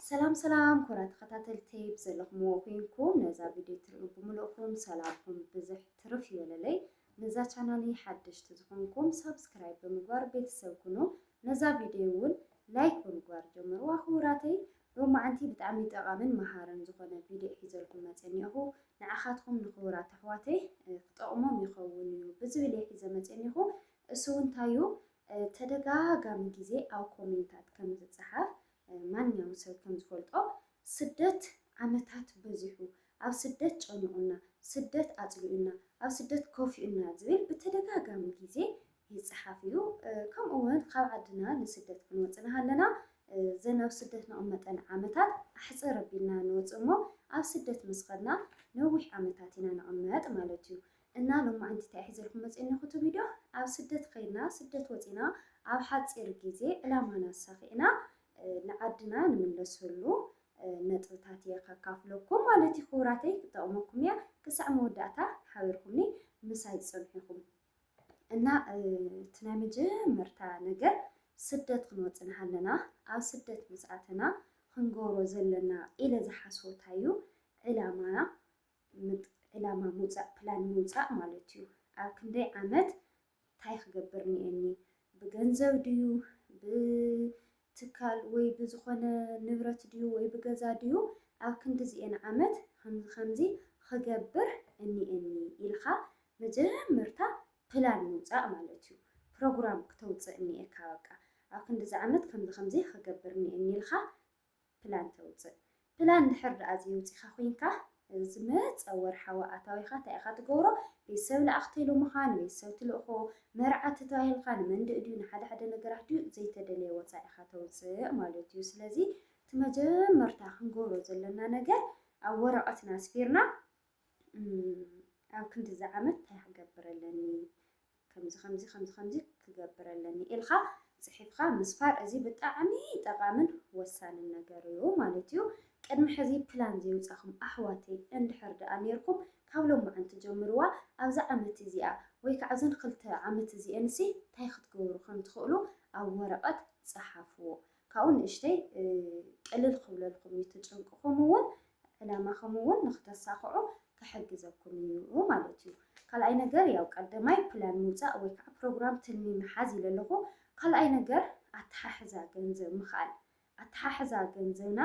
ሰላም ሰላም ኮራ ተኸታተልተይ ብዘለኹምዎ ኩንኩም ነዛ ቪድዮ ትርኡ ብምልእኹም ሰላምኩም ብዝሕ ትርፍ ይበለለይ ነዛ ቻናሊ ሓደሽቲ ዝኾንኩም ሳብስክራይብ ብምግባር ቤተሰብ ኩኑ ነዛ ቪድዮ እውን ላይክ ብምግባር ጀምርዋ ክቡራተይ ሎማዓንቲ ብጣዕሚ ጠቓምን መሃርን ዝኾነ ቪድዮ ሒዘልኩም መፀ እኒኹ ንዓኻትኩም ንክቡራት ኣሕዋተይ ክጠቕሞም ይኸውን እዩ ብዝብል እየ ሒዘ መፀ እኒኹ እሱ እንታይ እዩ ተደጋጋሚ ግዜ ኣብ ኮሜንታት ከም ዝጸሓፍ ማንኛውም ሰብ ከም ዝፈልጦ ስደት ዓመታት በዚሑ፣ ኣብ ስደት ጨኒቑና፣ ስደት ኣጽሊኡና፣ ኣብ ስደት ከፊኡና ዝብል ብተደጋጋሚ ግዜ ይጸሓፍ እዩ። ከምኡ ውን ካብ ዓድና ንስደት ክንወጽእ ንሃለና ዘን ኣብ ስደት ንቕመጠን ዓመታት ኣሕጽር ኣቢልና ንወጽእ እሞ ኣብ ስደት ምስ ኸድና ነዊሕ ዓመታት ኢና ንቕመጥ ማለት እዩ። እና ሎማዓንቲ ታይ ሒዘልኩም መፅየ እኒኩቲ ቪድዮ ኣብ ስደት ከይድና ስደት ወፂና ኣብ ሓፂር ግዜ ዕላማና ኣሳኪዕና ንዓድና ንምለሰሉ ነጥብታት እየ ከካፍለኩም ማለት እዩ ክቡራተይ ክጠቅመኩም እያ ክሳዕ መወዳእታ ሓቢርኩምኒ ምሳይ ፅንሑ ኢኩም እና እቲ ናይ መጀመርታ ነገር ስደት ክንወፅእ ኣለና ኣብ ስደት ምስ ኣተና ክንገብሮ ዘለና ኢለ ዝሓስቦ እንታይ እዩ ዕላማና ምጥ ዕላማ ምውጻእ ፕላን ምውጻእ ማለት እዩ ኣብ ክንደይ ዓመት ታይ ክገብር እኒኤኒ ብገንዘብ ድዩ ብትካል ወይ ብዝኾነ ንብረት ድዩ ወይ ብገዛ ድዩ ኣብ ክንዲዚኤን ዓመት ከምዚ ከምዚ ክገብር እኒኤኒ ኢልኻ መጀመርታ ፕላን ምውጻእ ማለት እዩ ፕሮግራም ክተውጽእ እኒኤካ በቃ ኣብ ክንዲዚ ዓመት ከምዚ ከምዚ ክገብር እኒኤኒ ኢልኻ ፕላን ተውጽእ። ፕላን እንድሕር ደኣ ዘየውጺእካ ኮይንካ፣ ዝመጸ ወርሓዊ ኣታዊኻ እንታይ ኢኻ ትገብሮ? ቤተሰብ ለኣኽተይ ሎምኻ፣ ንቤተሰብ ትልእኮ፣ መርዓ ተታሂልካ፣ ንመንድእ ድዩ፣ ንሓደ ሓደ ነገራት ድዩ፣ ዘይተደለየ ወጻኢ ኢኻ ተውጽእ ማለት እዩ። ስለዚ እቲ መጀመርታ ክንገብሮ ዘለና ነገር ኣብ ወረቐትና ኣስፊርና፣ ኣብ ክንድዚ ዓመት ታይ ክገብር ኣለኒ ከምዚ ከምዚ ከምዚ ከምዚ ክገብር ኣለኒ ኢልካ ፅሒፍካ ምስፋር እዚ ብጣዕሚ ጠቃምን ወሳንን ነገር እዩ ማለት እዩ። ቅድሚ ሕዚ ፕላን ዘይውፃኹም ኣሕዋተይ እንድሕር ደኣ ነይርኩም ካብ ሎማዓንቲ ጀምርዋ ኣብዛ ዓመት እዚኣ ወይ ከዓ እዘን ክልተ ዓመት እዚኤንሲ ታይ ክትገብሩ ከምትኽእሉ ኣብ ወረቀት ፀሓፍዎ። ካብኡ ንእሽተይ ቅልል ክብለልኩም እዩ እቲ ጭንቅኹም እውን ዕላማኹም እውን ንክተሳኽዑ ክሕግዘኩም እዩ ማለት እዩ ካልኣይ ነገር ያው ቀደማይ ፕላን ምውፃእ ወይ ከዓ ፕሮግራም ትልሚ ምሓዝ ኢለ ኣለኹ ካልኣይ ነገር ኣተሓሕዛ ገንዘብ ምኽኣል ኣተሓሕዛ ገንዘብና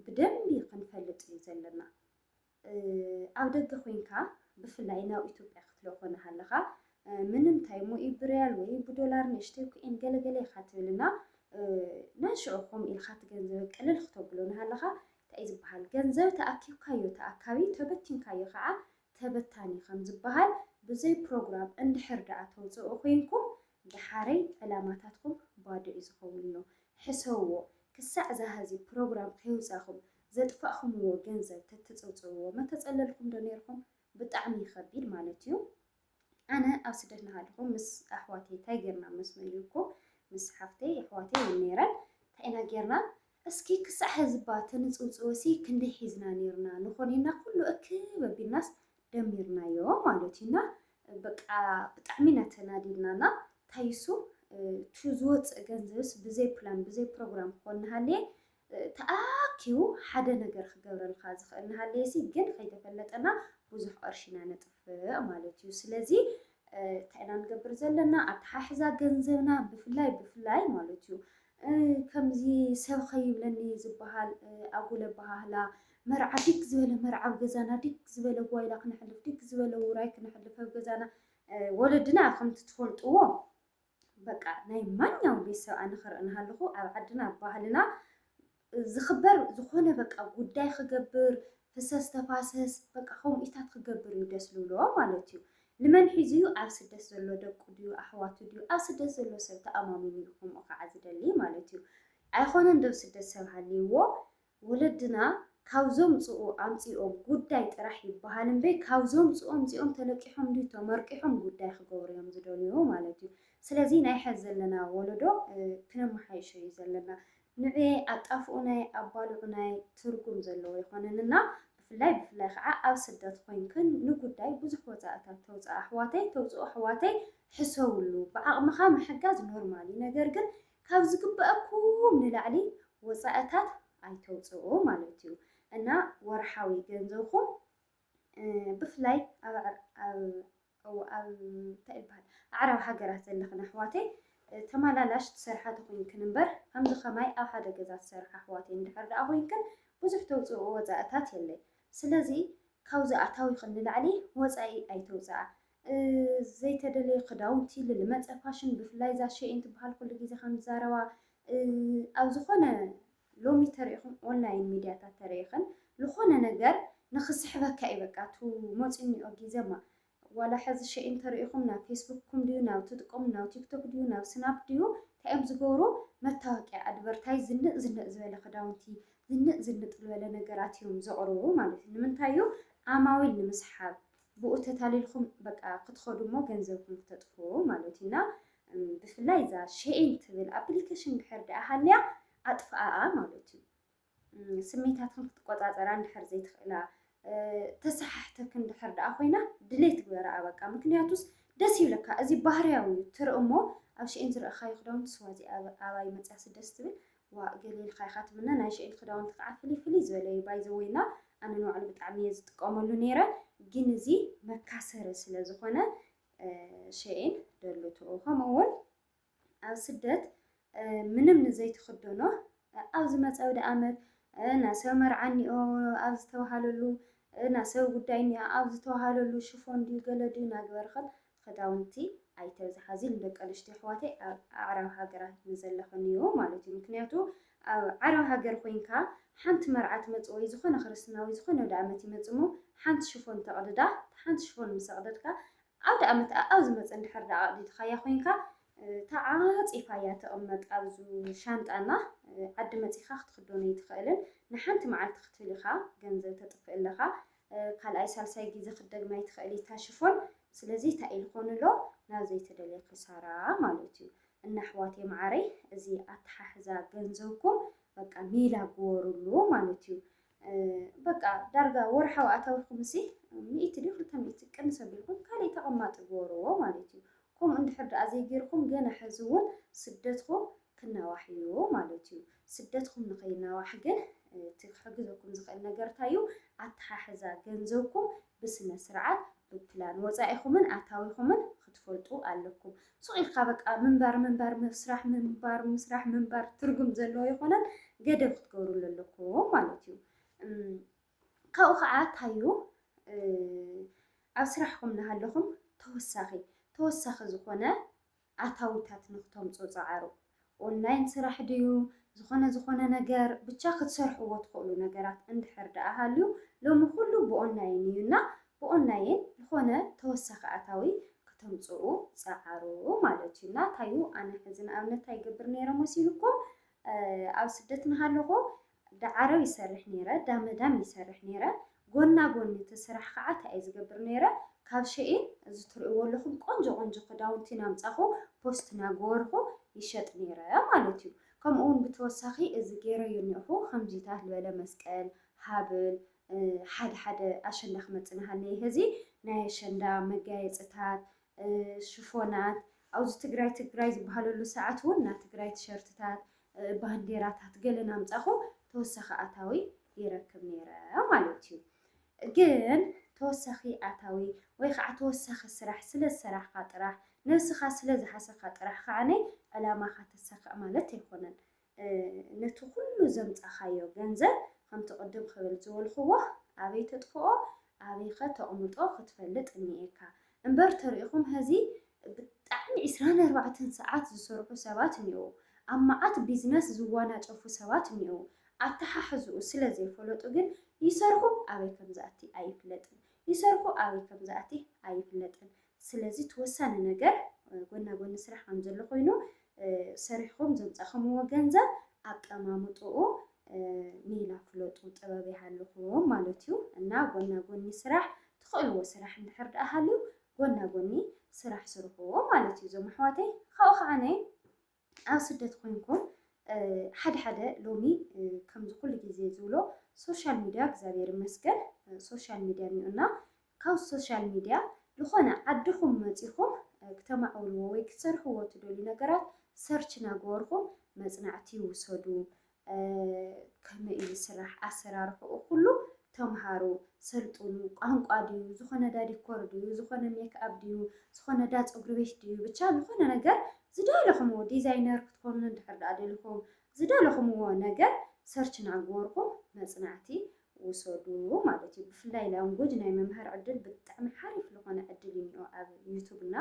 ብደንቢ ክንፈልጥ እዩ ዘለና ኣብ ደገ ኮይንካ ብፍላይ ናብ ኢትዮጵያ ክትልእኮ ናሃለኻ ምንምታይ እሞ ብርያል ወይ ብዶላር ንእሽተይ ኩዒን ገለ ገለ ኢኻ ትብል እና ነንሽዑ ከምኡ ኢልካ እቲ ገንዘበ ቅልል ክተብሎ ናሃለኻ እንታይ ዝበሃል ገንዘብ ተኣኪብካዮ ተኣካቢ ተበቲንካዮ ከዓ ተበታኒ ከም ዝበሃል ብዘይ ፕሮግራም እንድሕር ደኣ ተውፅኡ ኮይንኩም ደሓረይ ዕላማታትኩም ባዶ እዩ ዝኸውን እሞ ሕሰብዎ ክሳዕ ዛሀዚ ፕሮግራም ከይውፃእኹም ዘጥፋእኹምዎ ገንዘብ ተትጽውጽውዎ መተጸለልኩም ዶ ኔርኩም ብጣዕሚ እዩ ከቢድ ማለት እዩ ኣነ ኣብ ስደት ናሃለኹ ምስ ኣሕዋተይ ታይ ጌርና ምስ መሊኩ ምስ ሓፍተይ ኣሕዋተይ እውን ኔረን ታይ ኢና ጌርና እስኪ ክሳዕ ሕዝባ ተንጽውጽወሲ ክንደይ ሒዝና ኔርና ንኾኔና ኩሉ እክብ ኣቢልናስ ደሚርናዮ ማለት እዩ እና በቃ ብጣዕሚ ኢና ተናዲድናና ታይሱ እቲ ዝወፅእ ገንዘብስ ብዘይ ፕላን ብዘይ ፕሮግራም ክኾን ናሃለየ ተኣኪቡ ሓደ ነገር ክገብረልካ ዝኽእል እናሃለየሲ ግን ከይተፈለጠና ብዙሕ ቕርሺ ኢና ነጥፍእ ማለት እዩ። ስለዚ እንታይ ኢና ንገብር ዘለና ኣተሓሕዛ ገንዘብና ብፍላይ ብፍላይ ማለት እዩ ከምዚ ሰብ ከይብለኒ ዝበሃል ኣጉል ኣበሃህላ መርዓ ዲግ ዝበለ መርዓ ኣብ ገዛና ዲግ ዝበለ ጓይላ ክነሕልፍ ዲግ ዝበለ ውራይ ክነሕልፍ ኣብ ገዛና ወለድና ከምቲ ትፈልጥዎ በቃ ናይ ማንኛውም ቤተሰብ ኣነ ክርኢ እናሃለኹ ኣብ ዓድና ኣብ ባህልና ዝኽበር ዝኾነ በቃ ጉዳይ ክገብር ፍሰስ ተፋሰስ በቃ ከምኡ ኢታት ክገብር እዩ ደስ ዝብሎ ማለት እዩ። ንመን ሒዙ እዩ ኣብ ስደት ዘሎ ደቁ ድዩ ኣሕዋቱ ድዩ ኣብ ስደት ዘሎ ሰብ ተኣማሚኑ እዩ ከምኡ ከዓ ዝደሊ ማለት እዩ። ኣይኮነን ዶ ስደት ሰብ ሃልይዎ ወለድና ካብ ዘምጽኡ ኣምጺኦም ጉዳይ ጥራሕ ይበሃል እምበይ ካብ ዘምጽኡ ኣምጺኦም ተለቂሖም ድዩ ተመርቂሖም ጉዳይ ክገብሩ እዮም ዝደልዩ ማለት እዩ። ስለዚ ናይ ሐዚ ዘለና ወለዶ ክነመሓይሾ እዩ ዘለና። ንዕየ ኣጣፍኡናየ ኣባልዑናየ ትርጉም ዘለዎ ኣይኮነን እና ብፍላይ ብፍላይ ኸዓ ኣብ ስደት ኮይንክን ንጉዳይ ብዙሕ ወጻእታት ተውጽኣ ኣሕዋተይ ተውጽኡ ኣሕዋተይ ሕሰብሉ ብዓቅምኻ ምሕጋዝ ኖርማል እዩ ነገር ግን ካብ ዝግበኣኩም ንላዕሊ ወጻእታት ኣይተውጽኡ ማለት እዩ እና ወርሓዊ ገንዘብኩም ብፍላይ ኣብ ኣዕራብ ሃገራት ዘለኽን ኣሕዋተይ ተመላላሽ ትሰርሓ ተኾይንክን እምበር ከምዚ ከማይ ኣብ ሓደ ገዛ ትሰርሓ ኣሕዋተይ እንድሕር ደኣ ኮይንክን ብዙሕ ተውፅኦ ወፃእታት የለይ ስለዚ ካብዚ ኣታዊኽን ንላዕሊ ወፃኢ ኣይተውፅኣ ዘይተደለየ ክዳውንቲ ልል መጸ ፋሽን ብፍላይ እዛ ሸይን ትበሃል ኩሉ ግዜ ከም ዝዛረባ ኣብ ዝኾነ ሎሚ ተሪኢኹም ኦንላይን ሚድያታት ተሪኢኽን ዝኾነ ነገር ንክስሕበካ እዩ በቃ እቱ መፂኡ እኒኦ ግዜማ ዋላ ሕዚ ሸይን ተሪኢኹም ናብ ፌስቡክኩም ድዩ ናብ ትጥቀሙ ናብ ቲክቶክ ድዩ ናብ ስናፕ ድዩ እንታይ እዮም ዝገብሩ መታወቂያ ኣድቨርታይዝ ዝንእ ዝንእ ዝበለ ክዳውንቲ ዝንእ ዝንጥ ዝበለ ነገራት እዮም ዘቕርቡ ማለት እዩ ንምንታይ እዩ ዓማዊል ንምስሓብ ብኡ ተታሊልኩም በቃ ክትኸዱ እሞ ገንዘብኩም ክተጥፍኡ ማለት እዩ እና ብፍላይ እዛ ሸይን ትብል ኣፕሊኬሽን ድሕር ድኣ ሃልያ ኣጥፍኣኣ ማለት እዩ ስሜታትኩም ክትቆፃፀራ እንድሕር ዘይትኽእላ ተሰሓሕተክ እንድሕር ድኣ ኮይና ድሌት ግበራኣ በቃ ምክንያቱስ ደስ ይብለካ እዚ ባህርያዊ እዩ ትርኢ እሞ ኣብ ሸይን ዝረእኻዮ ክዳውንቲ ስዋ እዚ ኣባይ መፅያ ስደስ ትብል ዋእ ገለ ኢልካ ኢካ ትምነ ናይ ሽእል ክዳውንቲ ከዓ ፍልይ ፍልይ ዝበለ እዩ ባይ ዘ ወይ እና ኣነ ንባዕሉ ብጣዕሚ እየ ዝጥቀመሉ ነይረ ግን እዚ መካሰሪ ስለ ዝኮነ ሸኤን ደልትኦ ከምኡ እውን ኣብ ስደት ምንም ንዘይትኽደኖ ኣብ ዝመፀ ወደ ኣመት ናብ ሰብ መርዓ እኒኦ ኣብ ዝተባሃለሉ ናብ ሰብ ጉዳይ እኒኦ ኣብ ዝተባሃለሉ ሽፎን ድዩ ገለ ድዩ ናግበርኸት ኽዳውንቲ ኣይተብዝሓ ን ደቂ ኣንስትዮ ኣሕዋተይ ኣብ ኣዕራብ ሃገራት ንዘለክንዮ ማለት እዩ ምክንያቱ ኣብ ዓረብ ሃገር ኮይንካ ሓንቲ መርዓ ትመጽእ ወይ ዝኮነ ክርስትና ወይ ዝኮነ ኣውደኣመት ይመጽእ እሞ ሓንቲ ሽፎን ተቅድዳ እታ ሓንቲ ሽፎን ምስ ኣቅደድካ ኣውደኣመት ኣኣብ ዝመጽእ እንድሕር ደኣ ኣቅዲድካያ ኮይንካ ተዓጺፋ እያ ትቅመጥ ኣብዙ ሻንጣ እና ዓዲ መጺካ ክትክዶን ኣይትክእልን ንሓንቲ መዓልቲ ክትብል ኢካ ገንዘብ ተጥፍእ ኣለካ ካልኣይ ሳልሳይ ግዜ ክትደግማ ኣይትኽእሊ እታ ሽፎን ስለዚ እንታይ ኢልኮን ኣሎ ናብ ዘይተደልየ ክሳራ ማለት እዩ እና ኣሕዋት የመዓረይ እዚ ኣተሓሕዛ ገንዘብኩም በቃ ሜላ ግበሩሉ ማለት እዩ በቃ ዳርጋ ወርሓዊ ኣታዊኹም እሲ ሚእቲ ድዩ ክልተ ሚእቲ ቅንስ ኣቢልኩም ካልእ ተቐማጢ ግበርዎ ማለት እዩ ከምኡ እንድሕር ደኣ ዘይጌርኩም ገና ሕዚ እውን ስደትኩም ክናዋሕ እዩ ማለት እዩ። ስደትኩም ንከይናዋሕ ግን እቲ ክሕግዘኩም ዝክእል ነገር እንታይ እዩ ኣተሓሕዛ ገንዘብኩም ብስነ ስርዓት ብፕላን ወፃኢኩምን ኣታዊኩምን ክትፈልጡ ኣለኩም። ሱቅ ኢልካ በቃ ምንባር ምንባር ምስራሕ ምንባር ምስራሕ ምንባር ትርጉም ዘለዎ ኣይኮነን ገደብ ክትገብርሉ ኣለኩም ማለት እዩ። ካብኡ ከዓ እንታይ እዩ ኣብ ስራሕኩም እናሃለኩም ተወሳኪ ተወሳኪ ዝኮነ ኣታዊታት ንክተምጹ ጸዓሩ። ኦንላይን ስራሕ ድዩ ዝኾነ ዝኾነ ነገር ብቻ ክትሰርሕዎ ትኽእሉ ነገራት እንድሕር ድኣ ሃልዩ ሎሚ ኩሉ ብኦንላይን እዩ እና ብኦንላይን ዝኾነ ተወሳኺ ኣታዊ ክተምጽኡ ጸዓሩ ማለት እዩ እና ታይ እዩ ኣነ ሕዚ ንኣብነት ታይ ይገብር ነይረ መሲሉኩም ኣብ ስደት ናሃለኹ ዳዓሮ ይሰርሕ ነይረ ዳመዳም ይሰርሕ ነይረ ጎና ጎኒ እቲ ስራሕ ካዓ ታይ እየ ዝገብር ነይረ ካብ ሸኢን እዚ ትርእዎ ኣለኹም ቆንጆ ቆንጆ ክዳውንቲ ናምፃኹ ፖስት ናገበርኹ ይሸጥ ነይረ ማለት እዩ ከምኡ እውን ብተወሳኺ እዚ ገይረዮ እኒኦኹ ከምዚታት ልበለ መስቀል ሃብል ሓደ ሓደ ኣሸንዳ ክመፅእ ናሃለየ ህዚ ናይ ኣሸንዳ መጋየፅታት ሽፎናት ኣብዚ ትግራይ ትግራይ ዝበሃለሉ ሰዓት እውን ናይ ትግራይ ቲሸርትታት ባንዴራታት ገለ ናምፃኹ ተወሳኺ ኣታዊ ይረክብ ነይረ ማለት እዩ ግን ተወሳኺ ኣታዊ ወይ ከዓ ተወሳኺ ስራሕ ስለ ዝሰራሕካ ጥራሕ ነብስኻ ስለ ዝሓሰካ ጥራሕ ከዓነይ ዕላማኻ ተሳክዕ ማለት ኣይኮነን ነቲ ኩሉ ዘምጻኻዮ ገንዘብ ከምቲ ቅድም ክብል ዝበልክዎ ኣበይ ተጥፍኦ ኣበይከ ተቅምጦ ክትፈልጥ እኒኤካ እምበር ተሪኢኩም ሀዚ ብጣዕሚ ዕስራን ኣርባዕተን ሰዓት ዝሰርሑ ሰባት እኒኤዉ ኣብ መዓት ቢዝነስ ዝዋናጨፉ ሰባት እኒኤዉ ኣተሓሕዝኡ ስለ ዘይፈለጡ ግን ይሰርሑ ኣበይ ከምዝኣቲ ኣይፍለጥን ይሰርሑ ኣበይ ከምዝኣቲ ኣይፍለጥን ስለዚ እቲ ወሳኒ ነገር ጎና ጎኒ ስራሕ ከም ዘሎ ኮይኑ ሰሪሕኹም ዘምጻእኹምዎ ገንዘብ ኣቀማምጥኡ ሜላ ፍለጡ ጥበብ ይሃልኹም ማለት እዩ እና ጎና ጎኒ ስራሕ ትኽእልዎ ስራሕ እንድሕር ደኣ ሃልዩ ጎና ጎኒ ስራሕ ስርሕዎ ማለት እዩ እዞም ኣሕዋተይ ካብኡ ከዓ ነይ ኣብ ስደት ኮይንኩም ሓደ ሓደ ሎሚ ከምዚ ኩሉ ግዜ ዝብሎ ሶሻል ሚድያ እግዚኣብሔር ይመስገን ሶሻል ሚድያ እኒኦና ካብ ሶሻል ሚድያ ዝኾነ ዓድኹም መፂኹም ክተማዕብልዎ ወይ ክትሰርሕዎ ትደልዩ ነገራት ሰርች ናገበርኹም መፅናዕቲ ውሰዱ ከመይ እዩ ዝስራሕ ኣሰራርሕኡ ኩሉ ተምሃሩ፣ ሰልጥኑ፣ ቋንቋ ድዩ፣ ዝኾነ ዳ ዲኮር ድዩ፣ ዝኾነ ሜክኣፕ ድዩ፣ ዝኾነ ዳ ፀጉሪ ቤት ድዩ፣ ብቻ ዝኾነ ነገር ዝደለኹምዎ ዲዛይነር ክትኮኑ እንድሕር ዳኣ ደሊኹም ዝደለኹምዎ ነገር ሰርች እናገበርኩም መፅናዕቲ ውሰዱ ማለት እዩ። ብፍላይ ላንጉጅ ናይ ምምሃር ዕድል ብጣዕሚ ሓሪፍ ዝኾነ ዕድል እዩ እኒኦ ኣብ ዩቱብ እና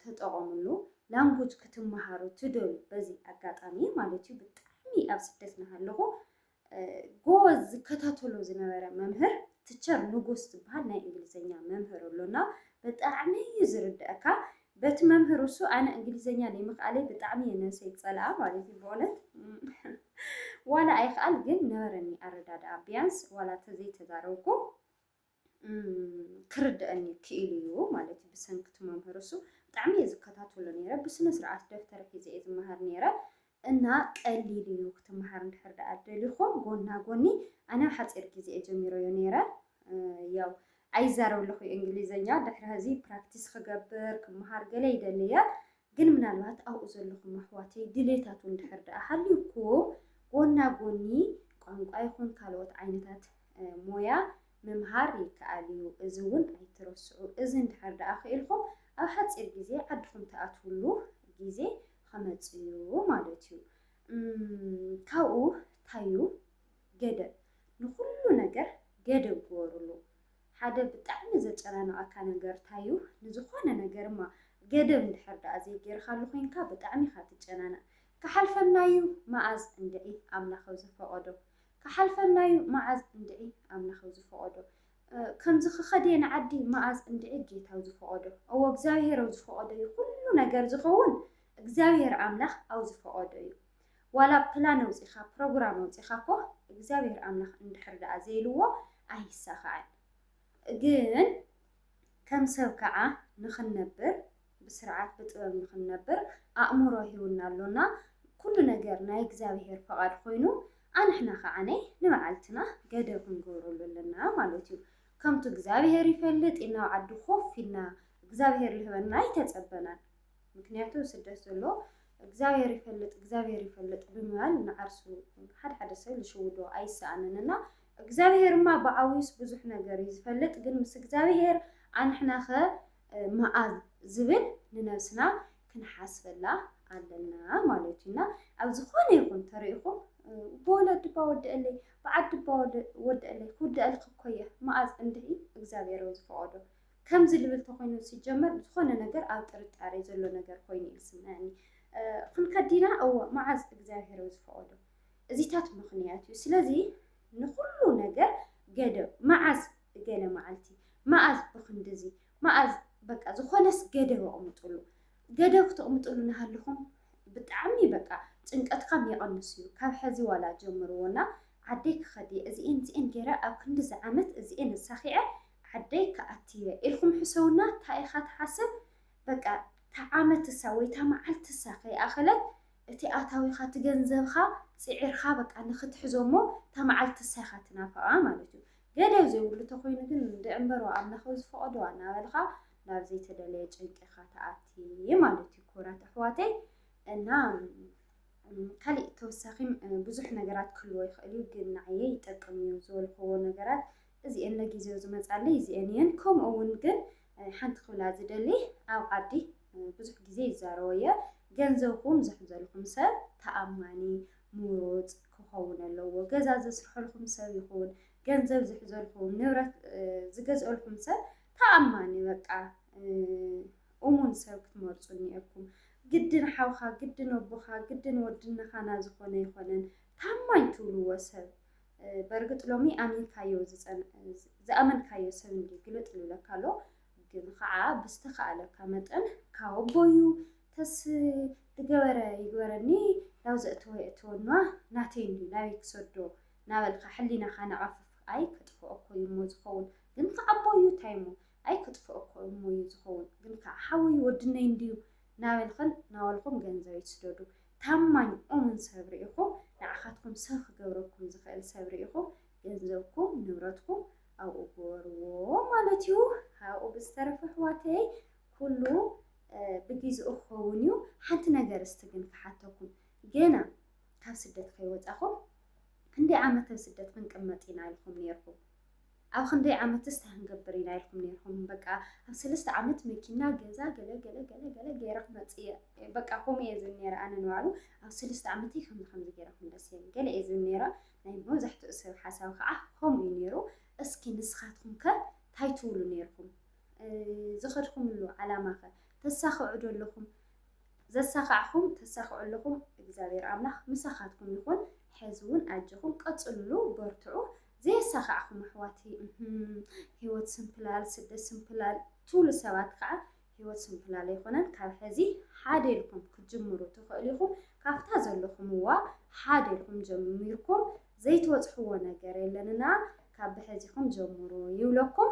ተጠቐምሉ ላንጉጅ ክትማሃሩ ትደልዩ በዚ ኣጋጣሚ ማለት እዩ ብጣዕሚ ኣብ ስደት ናሃለኹ ጎበዝ ዝከታተሎ ዝነበረ መምህር ትቸር ንጉስ ዝበሃል ናይ እንግሊዘኛ መምህር ኣሎና ብጣዕሚ እዩ ዝርድእካ በቲ መምህር እሱ ኣነ እንግሊዘኛ ዘይምኽኣለይ ብጣዕሚ እየ ነብሰይ ዝፀልኣ ማለት እዩ ብእውነት ዋላ ኣይክኣል ግን ነበረኒ ኣረዳድኣ ቢያንስ ዋላ ተዘይተዛረብኩ ክርደኣኒ ክኢሉ እዩ ማለት እዩ ብሰንኪ እቲ መምህር እሱ ብጣዕሚ እየ ዝከታተሎ ነይረ ብስነ ስርዓት ደፍተር ሒዘ እየ ዝመሃር ነይረ እና ቀሊል እዩ ክትመሃር እንድሕር ደኣ ደሊኹም ጎና ጎኒ ኣነ ኣብ ሓፂር ግዜ እየ ጀሚረዮ ነይረ ያው ኣይዛረብ ኣለኹ እንግሊዘኛ ድሕሪ ሕዚ ፕራክቲስ ክገብር ክመሃር ገለ ይደሊ እየ ግን ምናልባት ኣብኡ ዘለኹም ኣሕዋተይ ድሌታቱ እንድሕር ደኣ ሃልዩኩዎ ጎና ጎኒ ቋንቋ ይኹን ካልኦት ዓይነታት ሞያ ምምሃር ይከኣል እዩ እዚ እውን ኣይትረስዑ እዚ እንድሕር ደኣ ክኢልኹም ኣብ ሓፂር ግዜ ዓድኹም ትኣትውሉ ግዜ ኸመፅ እዩ ማለት እዩ ካብኡ ታዩ ገደብ ንኹሉ ነገር ገደብ ግበርሉ ሓደ ብጣዕሚ ዘጨናንቐካ ነገር ታዩ ንዝኾነ ነገርማ ገደብ እንድሕር ድኣ ዘይጌርኻሉ ኮይንካ ብጣዕሚ ኢኻ ትጨናነቕ ክሓልፈናዩ መኣዝ እንድዒ ኣምላኸ ዝፈቐዶ ክሓልፈናዩ መዓዝ እንድዒ ኣምላኸ ዝፈቐዶ ከምዚ ክኸድየ ንዓዲ መኣዝ እንድዒ ጌታው ዝፈቐዶ እዎ እግዚኣብሄር ኣብ ዝፈቐዶ እዩ ኩሉ ነገር ዝኸውን እግዚኣብሄር ኣምላኽ ኣብ ዝፈቐዶ እዩ ዋላ ፕላን ኣውጺኻ ፕሮግራም ኣውጺኻ እኮ እግዚኣብሔር ኣምላኽ እንድሕር ደኣ ዘይልዎ ኣይሳኻዕን ግን ከም ሰብ ከዓ ንኽንነብር ብስርዓት ብጥበብ ንኽንነብር ኣእምሮ ሂውና ኣሎና ኩሉ ነገር ናይ እግዚኣብሔር ፈቓድ ኮይኑ ኣንሕና ከዓ ንበዓልትና ገደብ ክንገብረሉ ኣለና ማለት እዩ ከምቱ እግዚኣብሔር ይፈልጥ ኢልና ኣብ ዓዲ ኮፍ ኢልና እግዚኣብሔር ልህበና ኣይተጸበናን ምክንያቱ ስደት ዘሎ እግዚኣብሔር ይፈልጥ እግዚኣብሔር ይፈልጥ ብምባል ንዓርሱ ሓደ ሓደ ሰብ ዝሽውዶ ኣይሰኣንን እና እግዚኣብሔርማ ብዓብዩስ ብዙሕ ነገር እዩ ዝፈልጥ ግን ምስ እግዚኣብሔር ኣንሕናኸ መኣዝ ዝብል ንነብስና ክንሓስበላ ኣለና ማለት እዩና ኣብ ዝኾነ ይኹን ተሪኢኹም ብወለድ ድባ ወደአለይ ብዓድ ድባ ወደአለይ ክውደአልክ እኮ እየ መኣዝ እንድዒ እግዚኣብሔር ዝፈቐዶ ከምዚ ልብል ተኾይኑ ዝጀመር ዝኾነ ነገር ኣብ ጥርጣሬ ዘሎ ነገር ኮይኑ እዩ ዝስምዐኒ። ክንከድ ዲና? እወ፣ መዓዝ እግዚኣብሄር እዩ ዝፈቐዶ። እዚታት ምኽንያት እዩ። ስለዚ ንኹሉ ነገር ገደብ፣ መዓዝ ገለ መዓልቲ፣ መኣዝ ብክንድዚ፣ መኣዝ በቃ ዝኾነስ ገደብ ኣቕምጡሉ። ገደብ ክትቕምጡሉ እናሃለኹም ብጣዕሚ በቃ ጭንቀትካም ይቐንስ እዩ። ካብ ሕዚ ዋላ ጀምርዎና ዓደይ ክኸድ እየ እዚኤን እዚኤን ገይረ ኣብ ክንድዚ ዓመት እዚኤን ኣሳኺዐ ዓደይ ክኣቲ'የ ኢልኩም ሕሰቡላ ታይ ኢኻ ትሓስብ በቃ ታዓመትሳ ወይ ታማዓልትሳ ከይኣኸለት እቲ ኣታዊኻ እቲ ገንዘብኻ ጺዒርኻ በቃ ንኽትሕዞ እሞ ታማዓልትሳ ኢኻ ትናፍቓ ማለት እዩ ገደብ ዘይብሉ ተኾይኑ ግን እንድዕምበሩ ኣምላኽ ብዝፈቐዶ ኣናበልኻ ናብ ዘይተደለየ ጭንቂ ኢኻ ትኣቲ ማለት እዩ ክቡራት ኣሕዋተይ እና ካሊእ ተወሳኺም ብዙሕ ነገራት ክህልዎ ይኽእል እዩ ግን ንዓየ ይጠቅም እዩ ዝበልክዎ ነገራት እዚኤን ለጊዜኡ ዝመጻለይ እዚኤን ኢየን ከምኡ እውን ግን ሓንቲ ክብላ ዝደሊ ኣብ ዓዲ ብዙሕ ግዜ ይዛረቦ ኢየ ገንዘብኩም ዝሕዘልኩም ሰብ ተኣማኒ ምሩጽ ክኸውን ኣለዎ ገዛ ዘስርሐልኩም ሰብ ይኹን ገንዘብ ዝሕዘልኩም ንብረት ዝገዝኦልኩም ሰብ ተኣማኒ በቃ እሙን ሰብ ክትመርጹ እኒኤኩም ግድን ሓውካ ግድን ኣቦካ ግድን ወድነኻና ዝኾነ ይኾነን ታማኝ ትብልዎ ሰብ በርግጥ ሎሚ ኣሚንካዮ ዝኣመንካዮ ሰብ እንዲ ግልጥ ልብለካ ኣሎ ግን ከዓ ብዝተኸኣለካ መጠን ካብ ኣቦዩ ተስ ዝገበረ ይግበረኒ ናብ ዘእተወ የእተወና ናተይ እንዲ ናበይ ክሰዶ ናበልካ ሕሊናኻ ነቐፍፍ ኣይ ክጥፍኦ እኮ እዩ እሞ ዝኸውን ግን ከዓ ኣቦዩ እንታይ እሞ ኣይ ክጥፍኦ እኮ እሞ እዩ ዝኸውን ግን ከዓ ሓወዩ ወድነይ እንድዩ ናበልኽን ናበልኹም ገንዘብ ይስደዱ ታማኝ ኦምን ሰብ ርኢኹም ንዓኻትኩም ሰብ ክገብረኩም ዝኽእል ሰብ ርኢኹም ገንዘብኩም ንብረትኩም ኣብኡ ግበርዎ ማለት እዩ ካብኡ ብዝተረፈ ኣሕዋተይ ኩሉ ብግዝኡ ክኸውን እዩ ሓንቲ ነገር እስቲ ግን ክሓተኩም ገና ካብ ስደት ከይወፃኹም ክንደይ ዓመት ኣብ ስደት ክንቅመጥ ኢና ኢልኩም ነይርኩም ኣብ ክንደይ ዓመትስ ታህንገብር ኢና ኢልኩም ነርኩም በቃ ኣብ ሰለስተ ዓመት መኪና ገዛ ገለ ገለ ገለ ገለ ገይረ ክመፅእ እየ በቃ ከምኡ እየ ዝብል ነይረ ኣነ ንባዕሉ ኣብ ሰለስተ ዓመተይ ከምዚ ከምዚ ገይረ ክምለስ እየ ገለ እየ ዝብል ነይረ ናይ መብዛሕትኡ ሰብ ሓሳብ ከዓ ከምኡ እዩ ነይሩ እስኪ ንስኻትኩም ከ እንታይ ትብሉ ነይርኩም ዝኸድኩምሉ ዓላማ ከ ተሳኽዑ ዶ ኣለኹም ዘሳኻዕኹም ተሳኽዑ ኣለኹም እግዚኣብሔር ኣምላኽ ምሳኻትኩም ይኹን ሕዚ እውን ኣጀኹም ቀፅልሉ በርትዑ ዘየሳኻዕኹም ኣሕዋተይ እህም ሂወት ስንፍላል ስደት ስንፍላል ትብሉ ሰባት ከዓ ሂወት ስንፍላል ኣይኮነን ካብ ሕዚ ሓደ ኢልኩም ክትጅምሩ ትኽእሉ ኢኹም ካብታ ዘለኹምዋ ሓደ ኢልኩም ጀሚርኩም ዘይትበፅሕዎ ነገር የለንና ካብ ብሕዚኹም ጀምሩ ይብለኩም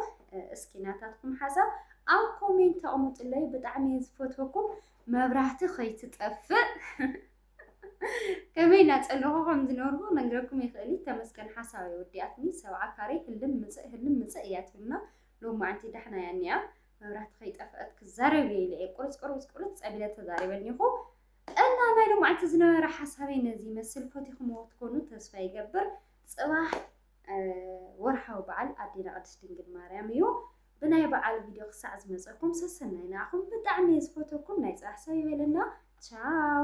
እስኪ ናታትኩም ሓሳብ ኣብ ኮሜንት ኣቕሙጥለይ ብጣዕሚ እየ ዝፈትወኩም መብራህቲ ከይትጠፍእ ከመይ እናጸለኹ ከም ዝነብርዎ መንገርኩም ይኽእል ተመስገን ሓሳብ ወዲኣትኒ ሰብዓ ካሬ ህልም ምጽእ ህልም ምጽእ እያ ትብልና ሎም መዓንቲ ዳሕና እያ እኒኣ መብራህቲ ከይጠፍአት ክዛረብ እየ ኢለ እየ ቁርፅ ቁርፅ ቁርፅ ፀቢለ ተዛሪበኒኹ እና ናይ ሎም መዓንቲ ዝነበረ ሓሳበይ ነዚ ይመስል ፈቲኹምዎ ትኮኑ ተስፋ ይገብር ጽባሕ ወርሓዊ በዓል ኣዴና ቅድስት ድንግል ማርያም እዩ ብናይ በዓል ቪድዮ ክሳዕ ዝመጸኩም ሰሰናይ ንዓኹም ብጣዕሚ እየ ዝፈተኩም ናይ ጽራሕ ሰብ ይበለና ቻው